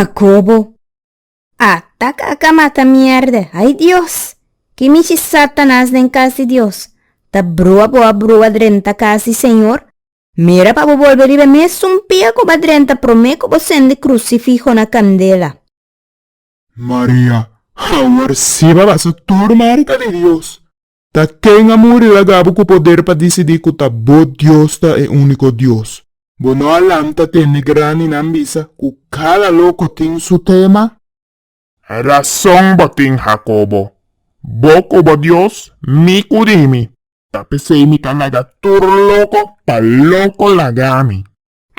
Jacobo, A tak a ka mata mierde, ay Dios! Ki michi Satanas den kas di Dios! Ta brua bo a brua drenta kas di Señor? Mira pa bo bolbe riba e mesun pia ku bo a drenta promé ku bo sende krusifiho na kandela. Maria, Awor siba basa tur marka di Dios! Ta ken a muri laga bo ku poder pa disidí ku ta bo Dios ta e úniko Dios? Bo no a lanta te negrandinan bisa ku kada loko tin su tema? Rason bo tin, Jacobo, bo ku bo Dios, mi ku di mi. Ta p'esei mi ta laga tur loko pa loko laga mi.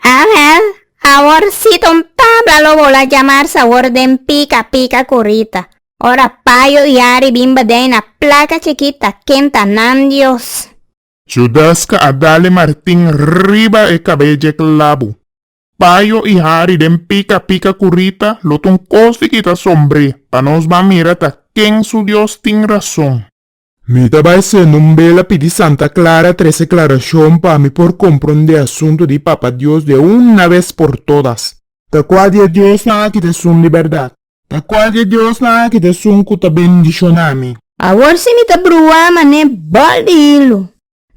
Angel, Awor si ton Pabla lo bo la jamar sawor den pika pika kurita. Ora payo i ari bin badei na plaka chikita ken ta nan Dios. Judaska a dale martin riba e kabeye klabu. Payo i ari den pika pika kurita lo ton kos di kita sombre pa nos ban mira ta ken su Dios tin rason. Mi ta bai sende un bela pidi Santa Clara trece clarashon pa mi por comprende asunto di Papa Dios de una vez por todas. Ta cual di e Diosnan aki ta esun di berdad? Ta cual di e Diosnan aki ta esun cu ta bendiciona mi? Awor si mi ta brua man'e bol di hilu.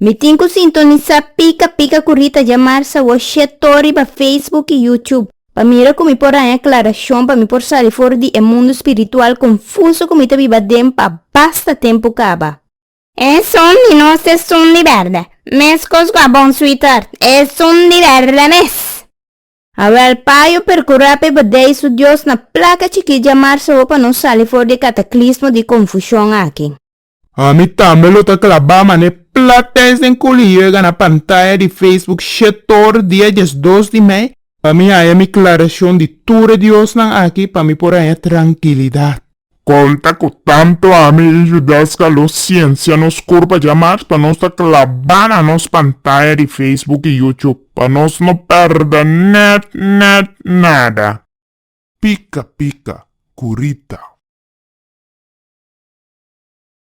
Mi tin cu sintonisa pica pica cu Rita Jamar Sawoshé Tor riba Facebook y YouTube pa mira cu mi por haña aclaracion pa mi por sali for di e mundo spiritual confuso cu mi ta biba den pa basta tempo caba. Esun di nos esun di berde, mescos cu a bon sweetheart, esun di berde mes! Awel Pa yo percura p'e Badey su Dios na placa chikí Jamar Sawo pa nos sali for di e cataclismo di confusion aki. Ami tambe lo ta klabá mané platens den kuliyo e gana pantaya di Facebook shetor dia diesdos di mei pa mi haña mi klarashon di tur e diosnan aki pa mi por haña trankilidat. Kon ta ku tantu ami i Yudelska lo siensia nos kurpa dja mas pa nos ta klabá na nos pantaya di Facebook i YouTube pa nos no pèrdè nèt nèt nada? Pika pika ku Rita.